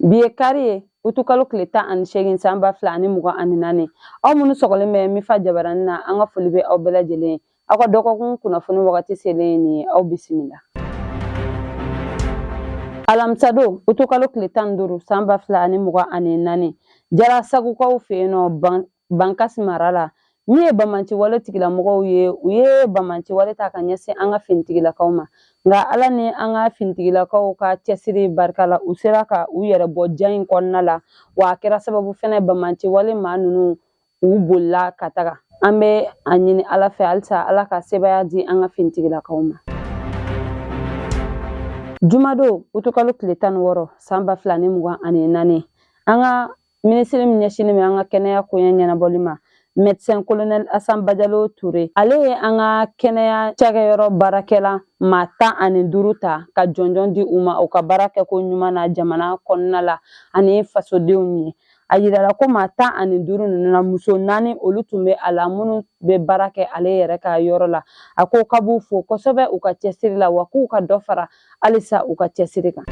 Bi ye kari ye utukalo tile tan ani seegin san ba fila ani mugan ani naani aw minnu sɔgɔlen bɛ mifa jabaranin na an ka foli bɛ aw bɛɛ lajɛlen ye aw ka dɔgɔkun kunnafoni wagati selen ye nin ye aw bisimila alamisadon utukalo tile tan ni duuru san ba fila ani mugan ani naani jarasagukaw fɛ yen nɔ bankasi mara la min ye bamanciwale tigilamɔgɔw ye u ye bamanciwale ta ka ɲɛsin an ka finitigilakaw ma nka ala ni an ka finitigilakaw ka cɛsiri barika la u sera ka u yɛrɛ bɔ jan in kɔnɔna la wa a kɛra sababu fɛnɛ bamanciwale maa ninnu u bolila ka taga an bɛ a ɲini ala fɛ halisa ala ka sebaaya di an ka finitigilakaw ma jumadon utukalo tile tan ni wɔɔrɔ san ba fila ni mugan ani naani an ka minisiri min ɲɛsinnen bɛ an ka kɛnɛya koɲɛ ɲɛnabɔli ma mɛdisɛn kolonɛli asan bajalo ture ale ye an ka kɛnɛya cakɛyɔrɔ baarakɛla maa tan ani duuru ta ka jɔnjɔn di u ma u ka baara kɛko ɲuman na jamana kɔnɔna la ani fasodenw ye a yirala ko maa tan ani duuru na muso naani olu tun bɛ a la minnu bɛ baara kɛ ale yɛrɛ ka yɔrɔ la a ko k'a b'u fo kosɛbɛ u ka cɛsiri la wa k'u ka dɔ fara halisa u ka cɛsiri kan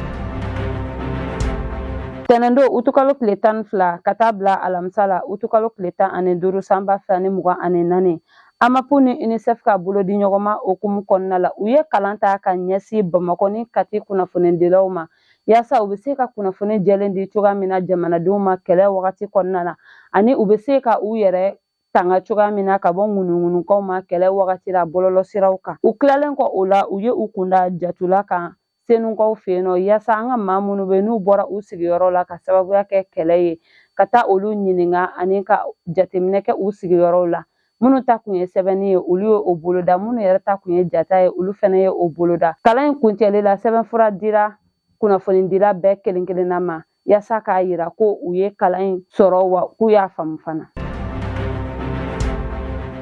tɛnɛndon utukalo tile tan ni fila ka taa bila alamisa la utukalo tile tan ani duuru sanba fila ni mugan ani naani amapu ni unicef ka bolodiɲɔgɔnma hukumu kɔnɔna la u ye kalan ta ka ɲɛsin bamakɔ ni kati kunnafonidilaw ma yaasa u bɛ se ka kunnafoni jɛlen di cogoya min na jamanadenw ma kɛlɛ wagati kɔnɔna na ani u bɛ se ka u yɛrɛ tanga cogoya min na ka bɔ ŋunuŋunukanw ma kɛlɛ wagati la bɔlɔlɔsiraw kan u tilalen kɔ o la u ye u kun da jatula kan senukaw fɛ yen nɔ yaasa an ka maa minnu bɛ n'u bɔra u sigiyɔrɔ la ka sababuya kɛ kɛlɛ ye ka taa olu ɲininka ani ka jateminɛ kɛ u sigiyɔrɔw la minnu taakun ye sɛbɛnni ye olu ye o boloda minnu yɛrɛ taakun ye jata ye olu fana ye o boloda kalan in kuncɛli la sɛbɛnfura dira kunnafonidila bɛɛ kelen kelenna ma yaasa k'a yira ko u ye kalan in sɔrɔ wa k'u y'a faamu fana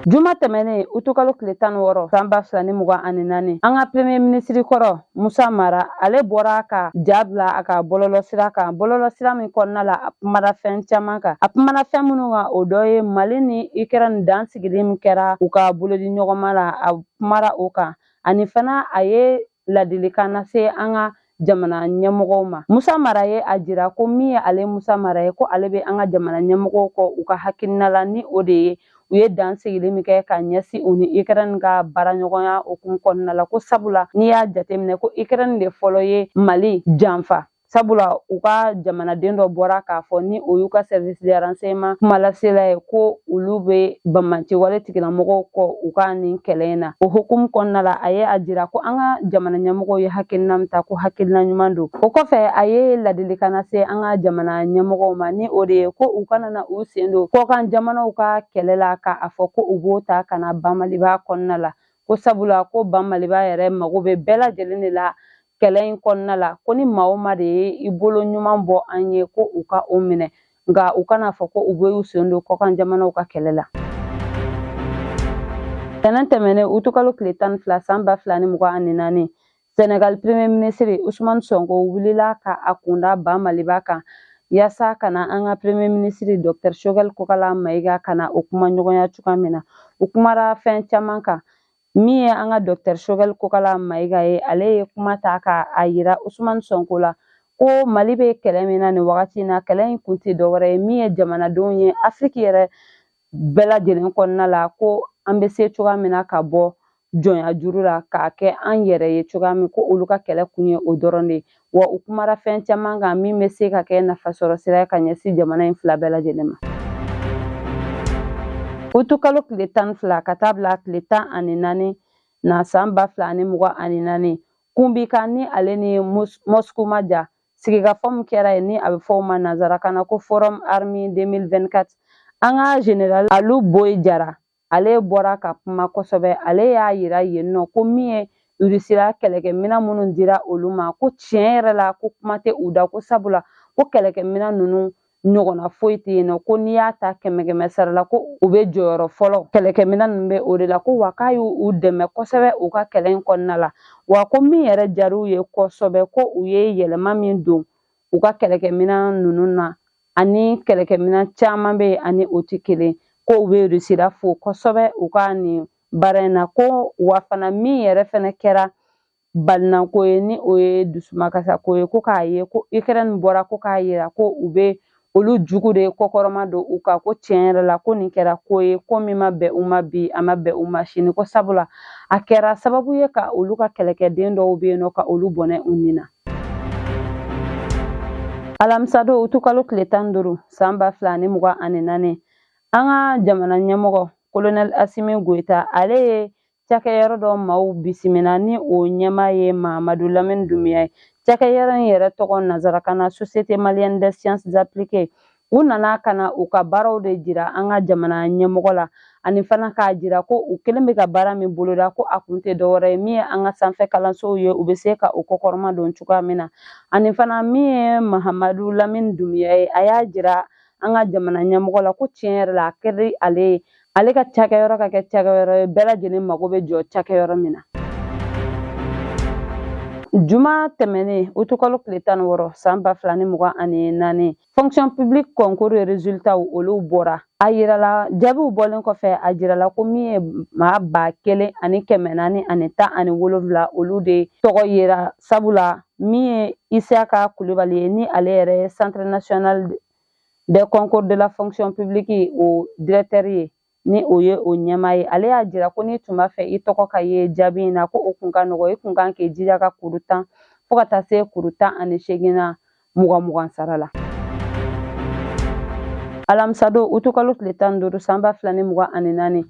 juma tɛmɛnen utukalo tile tan ni wɔɔrɔ san ba fila ni mugan ani naani an ka premye minisiri kɔrɔ Musa Mara ale bɔra ka ja bila a ka bɔlɔlɔsira kan bɔlɔlɔsira min kɔnɔna la a kumana fɛn caman kan a kumara fɛn minnu kan o dɔ ye mali ni ukraine dansigili min kɛra u ka bolodiɲɔgɔnma la a kumara o kan ani fana a ye ladilikan lase an ka jamana ɲɛmɔgɔw ma musa mara ye a jira ko min ye ale musa mara ye ko ale bɛ an ka jamana ɲɛmɔgɔw kɔ u ka hakilina la ni o de ye u ye dansigili min kɛ ka ɲɛsin u ni Ukraine ka baaraɲɔgɔnya hukumu kɔnɔna la ko sabula n'i y'a jateminɛ ko Ukraine de fɔlɔ ye Mali janfa sabula u ka jamanaden dɔ bɔra k'a fɔ ni o y'u ka service de renseignement kumalasela ye ko olu bɛ banbaanciwale tigilamɔgɔw kɔ u ka nin kɛlɛ in na o hukumu kɔnɔna la a ye a jira ko an ka jamana ɲɛmɔgɔw ye hakilina min ta ko hakilina ɲuman don o kɔfɛ a ye ladilikan lase an ka jamana ɲɛmɔgɔw ma ni o de ye ko u kana na u sen don kɔkan jamanaw ka kɛlɛ la k'a fɔ ko u b'o ta ka na ba Maliba kɔnɔna la ko sabula ko ba Maliba yɛrɛ mago bɛ bɛɛ lajɛlen de la kɛlɛ in kɔnɔna la ko ni maa o maa de ye i bolo ɲuman bɔ an ye ko u ka o minɛ nka u kana fɔ ko u bɛ u sen don kɔkan jamanaw ka kɛlɛ la tɛnɛn tɛmɛnen utukalo tile tan ni fila san ba fila ni mugan ani naani Senegal premier ministre Ousmane Sonko wulila ka a kun da ba Maliba kan yasa ka na an ka premier ministre Dr Choguel Kokala Mayiga ka na o kumaɲɔgɔnya cogoya min na u kumara fɛn caman kan min ye an ka Dr Choguel Kokala Mayiga ye ale ye kuma ta ka a yira Ousmane Sonko la ko Mali bɛ kɛlɛ min na nin wagati in na kɛlɛ in kun tɛ dɔwɛrɛ ye min ye jamanadenw ye Afiriki yɛrɛ bɛɛ lajɛlen kɔnɔna la ko an bɛ se cogoya min na ka bɔ jɔnya juru la k'a kɛ an yɛrɛ ye cogoya min ko olu ka kɛlɛ kun ye o dɔrɔn de ye wa u kumara fɛn caman kan min bɛ se ka kɛ nafasɔrɔ sira ye ka ɲɛsin jamana in fila bɛɛ lajɛlen ma utukalo tile tan ni fila ka taa bila tile tan ani naani na san ba fila ani mugan ani naani Kubinka ni ale ni mosku man jan sigikafɔ min kɛra yen ni a bɛ fɔ o ma nanzarakan na ko forum army 2024 an ka general alu boyi jara ale bɔra ka kuma kosɛbɛ ale y'a yira yen nɔ ko min ye irisila kɛlɛkɛminɛn minnu dira olu ma ko tiɲɛ yɛrɛ la ko kuma tɛ u da ko sabula ko kɛlɛkɛminɛn ninnu ɲɔgɔnna foyi tɛ yen nɔ ko n'i y'a ta kɛmɛ kɛmɛ sara la ko u bɛ jɔyɔrɔ fɔlɔ kɛlɛkɛminɛn ninnu bɛ o de la ko wa k'a y'u dɛmɛ kosɛbɛ u ka kɛlɛ in kɔnɔna la wa ko min yɛrɛ diyara u ye kosɛbɛ ko u ye yɛlɛma min don u ka kɛlɛkɛminɛn ninnu na ani kɛlɛkɛminɛn caman bɛ yen a ni o tɛ kelen ko u bɛ irisila fo kosɛbɛ u ka nin baara in na ko wa fana min yɛrɛ fana kɛra balinako ye ni o ye dusumakasako ye ko k'a ye ko ukraine bɔra ko k'a yira ko u bɛ olu jugu de kɔkɔrɔma don u kan ko tiɲɛ yɛrɛ la ko nin kɛra ko ye ko min ma bɛn u ma bi a ma bɛn u ma sini ko sabula a kɛra sababu ye ka olu ka kɛlɛkɛden dɔw bɛ yen nɔ ka olu bɔnɛ u ni na alamisadon utukalo tile tan duuru san ba fila ni mugan ani naani an ka jamana ɲɛmɔgɔ kolonɛl asimi goyita ale ye cakɛyɔrɔ dɔ maaw bisimila ni o ɲɛmaa ye mahamadu lamini dumiya ye cakɛyɔrɔ in yɛrɛ tɔgɔ nansarakan na société malienne des sciences appliquées u nana ka na u ka baaraw de jira an ka jamana ɲɛmɔgɔ la ani fana k'a jira ko u kɛlen bɛ ka baara min boloda ko a kun tɛ dɔwɛrɛ ye min ye an ka sanfɛ kalansow ye u bɛ se ka u kɔkɔrɔmadon cogoya min na ani fana min ye mahamadu lamini dumiya ye a y'a jira an ka jamana ɲɛmɔgɔ la ko tiɲɛ yɛrɛ la a kɛra ale ye ale ka cakɛyɔrɔ ka kɛ cakɛyɔrɔ ye bɛɛ lajɛlen mago bɛ jɔ cakɛyɔrɔ min na juma tɛmɛnen utukalo tile tan ni wɔɔrɔ san ba fila ni mugan ani naani fonction publique concours resultaw olu bɔra a yirala jaabiw bɔlen kɔfɛ a jirala ko min ye maa ba kelen ani kɛmɛ naani ani tan ani wolonfila olu de tɔgɔ yera sabula min ye isiyaka kulubali ye ni ale yɛrɛ ye centre national des concours de la fonction publique o directeur ye ni o ye o ɲɛmaa ye ale y'a jira ko n'i tun b'a fɛ i tɔgɔ ka ye jaabi in na ko o kun ka nɔgɔ i kun kan k'i jija ka kuru tan fo ka taa se kuru tan ani seegin na mugan mugan sara la alamisadon utukalo tile tan duuru san ba fila ni mugan ani naani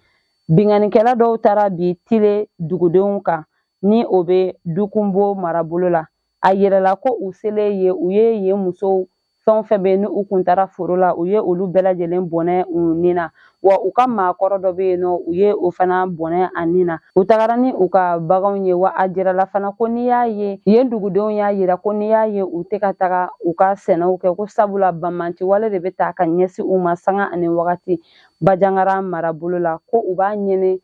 binkannikɛla dɔw taara bin tile dugudenw kan ni o bɛ dukunbo marabolo la a yirala ko u selen yen u ye yen musow fɛn o fɛn bɛ yen ni u kun taara foro la u ye olu bɛɛ lajɛlen bɔnɛ u ni na wa u ka maakɔrɔ dɔ bɛ yen nɔ u ye o fana bɔnɛ a ni na u tagara ni u ka baganw ye wa a jirala fana ko n'i y'a ye yen dugudenw y'a yira ko n'i y'a ye u tɛ ka taga u ka sɛnɛw kɛ ko sabula banbaanci wale de bɛ taa ka ɲɛsin u ma sanga ani wagati bajangara marabolo la ko u b'a ɲini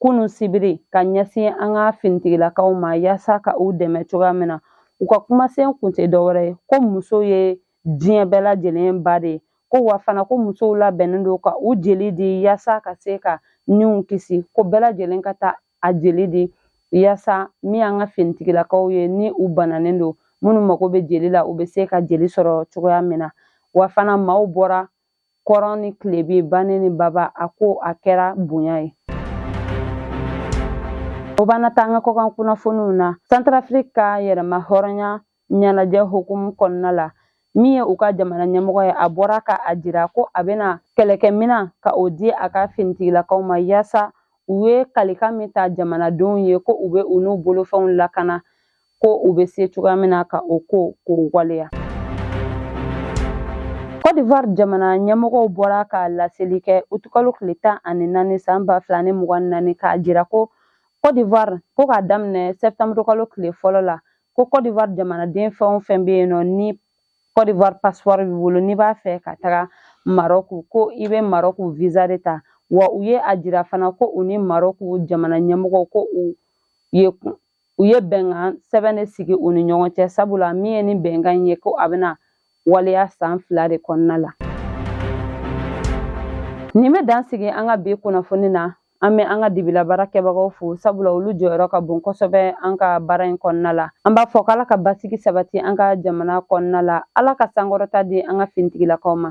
kunu sibiri ka ɲɛsin an ka finitigilakaw ma yaasa ka u dɛmɛ cogoya min na u ka kumasen kun tɛ dɔwɛrɛ ye ko muso ye diɲɛ bɛɛ lajɛlen ba de ye ko wa fana ko musow labɛnnen don ka u jeli di yaasa ka se ka niw kisi ko bɛɛ lajɛlen ka taa a jeli di yaasa min ye an ka finitigilakaw ye ni u bananen don minnu mago bɛ jeli la u bɛ se ka jeli sɔrɔ cogoya min na wa fana maaw bɔra kɔrɔn ni tilebin banin ni baba a ko a kɛra bonya ye o b'an na taa an ka kɔkan kunnafoniw na santarafiriki ka yɛrɛmahɔrɔnya ɲɛnajɛ hukumu kɔnɔna la min ye u ka jamana ɲɛmɔgɔ ye a bɔra ka a jira ko a bɛna kɛlɛkɛminan ka o di a ka finitigilakaw ma yaasa u ye kalikan min ta jamanadenw ye ko u bɛ u n'u bolofɛnw lakana ko u bɛ se cogoya min na ka o ko k'o waleya Côte d'Ivoire jamana ɲɛmɔgɔw bɔra ka laseli kɛ utukalo tile tan ani naani san ba fila ni mugan ni naani k'a jira ko Côte d'Ivoire ko k'a daminɛ sɛptanburukalo tile fɔlɔ la ko Côte d'Ivoire jamanaden fɛn o fɛn bɛ yen nɔ ni Côte d'Ivoire passeport b'i bolo n'i b'a fɛ ka taga Marɔku ko i bɛ Marɔku visa de ta wa u ye a jira fana ko u ni Marɔku jamana ɲɛmɔgɔw ko u ye u ye bɛnkan sɛbɛn de sigi u ni ɲɔgɔn cɛ sabula min ye nin bɛnkan in ye ko a bɛna waleya san fila de kɔnɔna la nin bɛ dan sigi an ka bi kunnafoni na an bɛ an ka dibila baara kɛbagaw fo sabula olu jɔyɔrɔ ka bon kosɛbɛ an ka baara in kɔnɔna la an b'a fɔ k'ala ka basigi sabati an ka jamana kɔnɔna la ala ka sankɔrɔta di an ka finitigilakaw ma